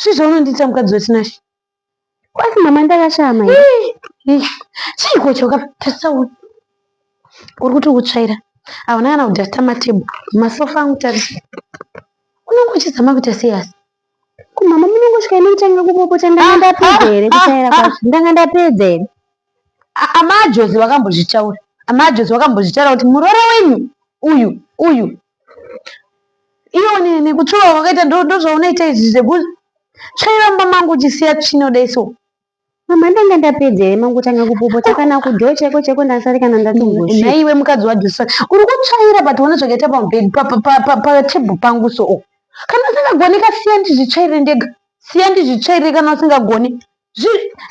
Chii zvaunondiita mukadzi wetinashe? Kwati mama ndakashaya mai. Chiiko icho ka? Tarisa uyu. Uri kuti ukutsvaira. Hauna kana kudhasta matable. Masofa angu tarisa. Unenge uchizama kuita sei asi? Ko mama munongosvika imi kutanga kupopota ndanga ndapedza here kutsvaira kwacho? Ndanga ndapedza here? amajozi vakambozvitaura amajozi vakambozvitaura kuti muroora wenyu uyu uyu iyo nekutsvuva kwakaita ndozvaunoita izvi zvekuti tsvaira mumba mangu uchisiya tsvina kudai so mama ndanga ndapedza here mangotanga kupopota kana kudhoo chaiko chaiko ndasari kana ndatomboshaiwe mukadzi wajosa uri kutsvaira but one zvakaita pamubhedhi patebhu pangu so kana usingagoni kasiya ndizvitsvaire ndega siya ndizvitsvaire kana usingagoni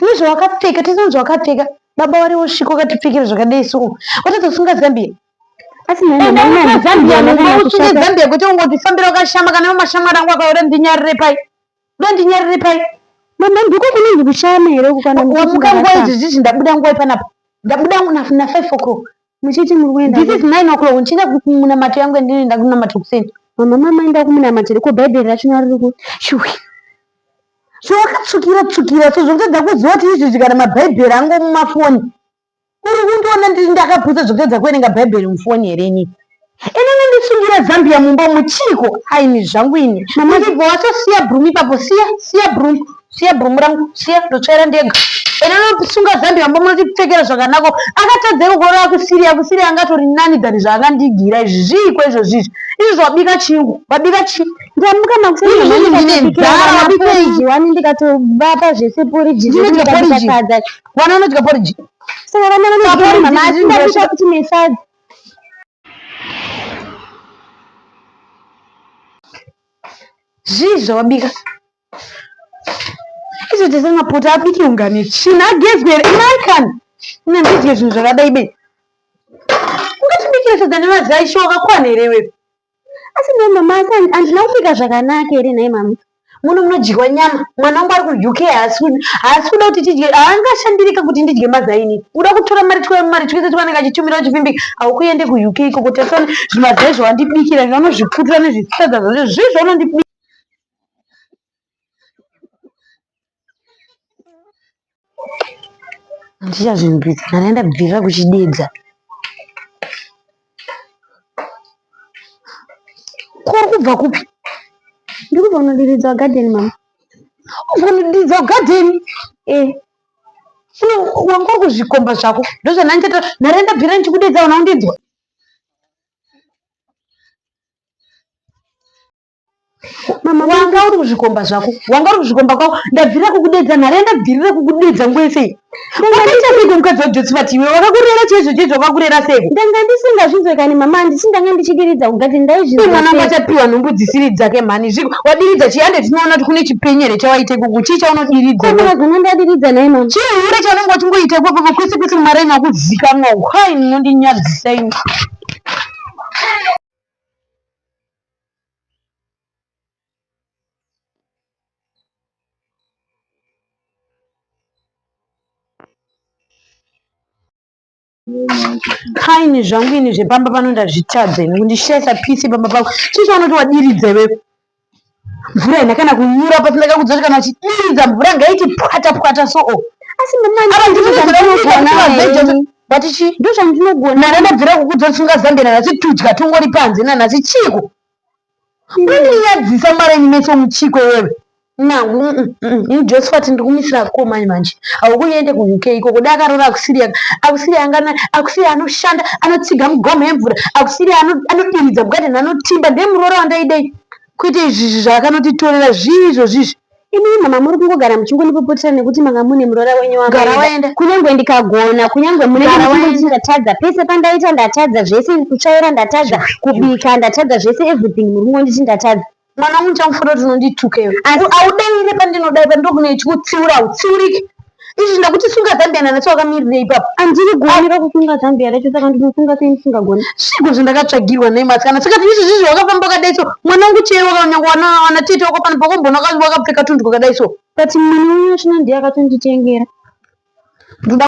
nezvawakapfeka tese nezvawakapfeka baba wari wosvika wakatipfekera zvakadai so watadzosunga zambia asiusunge zambia kuti ungotifambira ukashama kana iwo mashamwari angu akaora ndinyarire pai da ndinyarire pai mama ndiko kunonzi kushama here kukwana wamuka nguva idzizizvi ndabuda nguva ipanapa ndabuda na five o'clock Muchiti muri kuenda This is 9 o'clock ndichienda kumunamato yangu yandinoenda kunamata kuseni. Mama mama enda kumunamato riko bhaibheri racho naro riko. Shuwi. So wakatsukira tsukira so zvokutadza kuziva kuti izvi zvikana mabhaibheri angu mumafoni. Uri kundiona ndiri ndakapusa zvokutadza kuverenga bhaibheri mufoni here ini. Ini nondisungira Zambia mumba umu chiiko aini zvangu ini. Mama ndibva watosiya broom ipapo siya siya broom siya broom rangu siya ndotsvaira ndega. Ini nondisunga Zambia mumba munotipfekera zvakanako akatadzeko kurora akusiri akusiri angatori nani than zvaangandigira izvi zviiko izvozvi izvi izvi zvabika chingu wabika chi Ndamuka makuseni Izvi mama ndine ndikabikira nzara, mwana wabika porridge izvi. wani ndikatovapa zvese porridge Ndinodya zvekuti porridge. ndikasadza. Vana vanodya porridge. Saka vana vanodya Porridge mama asi ndizvo ndabika zvinoita- kuti mesadza. Zvii zvawabika? Izvo tese mapota abiki ungane tsvina agezwe here? American! Ina ndidye zvinhu zvakadai be. Ungatibikire sadza nevazai shuwa wakakwana here iwewe? Asi nhai mama asi handina kupfeka zvakanaka here nhai mama? Muno munodyiwa nyama, mwana wangu ari kuUK haasi kuda kuti tidye, haangashandirika kuti ndidye mazaini. Kuda kutora mari mari twese twanenge achitumira uchivimbika, haukuende kuUK ikoko tasona zvimazai zvawandibikira izvo vanozvipfutura nezvisadza zvacho zvii zvaunondibikira. Handichazvinzwidzi kana ndaenda bvirira kuchidedza. Kuri kubva kupi? Ndiri kubva kunodiridza garden mama. Ubva kunodiridza garden? Eh. Funo wanga uri kuzvikomba zvako. Ndozvandandichaita. Ndarenda bvirira ndichikudedza ona undinzwa. mama wanga uri kuzvikomba zvako wanga uri kuzvikomba kwako ndabvirira kukudedza nhare yandabvirira kukudedza nguva yese iyi wakaita seiko mukadzi wajosi vati iwe wakakurera chaizvo chaizvo wakakurera seiko ndanga ndisingazvinzwe kani mama handisi ndanga ndichidiridza kugati ndaizvimwanangu achapiwa nhumbu dzisiri dzake mhani zviko wadiridza chii hande tinoona kuti kune chipenyere chawaita ikuku chii chaunodiridza zona ndadiridza nai mama chii hure chaunenge wachingoita ikokoko kwese kwese mumaraini akuzikanwa hwai munondinyadzisa imi kaini zvangu ini zvepamba pano ndazvitadza ini kundishaisa pisi pamba pako chii chaunoti wadiridza iwewe mvura ina kana kunyura pasi ndakakudzoti kana uchidiridza mvura ngaiti pwata pwata soo asi ndimani But chii? Ndozvandinogona. Nana mabvira kukudzo tsunga zambia nanhasi tudya tungori panze nanhasi chiiko? Mandinyadzisa mara imi mese muchiko iwewe. Now mm, mm, mm, ini Josephat ndikumisira akomai manje. Haukuende kuUK ikoko dai akaroora akusiri aka. Akusiri angana akusiri anoshanda anotsiga mugomo yemvura. Akusiri ano- anodiridza bugadeni anotimba ndiye muroora wandaidei. Kwete izvi izvi zvaakanotitorera zvii izvozvi izvi. Imi mama muri kungogara muchingondipopotera nekuti manga mune muroora wenyu wakaenda. Kunyange ndikagona, kunyange mune ndikatadza. Pese pandaita ndatadza zvese, kutsvaira ndatadza, kubika ndatadza zvese everything muri kungonditi ndatadza. Mwana wangu ndichakufuta kuti unondituka iwe. Asi audaire pandinodaira pandokune chikutsiura utsiurike. izvi ndakuti sunga zambia nanacho wakamirirei ipapo andiri goni rekusunga zambia racho saka ndinosunga sei ndisingagoni sviko zvandakatsvagirwa nemasi kana saka izvi zvizvi wakafamba kadai so mwana wangu chero wakanyanga wana tete wako pano pakombona wakapfeka tundwa kadai so but mwana wenyu achina ndiye akatonditengera ndoda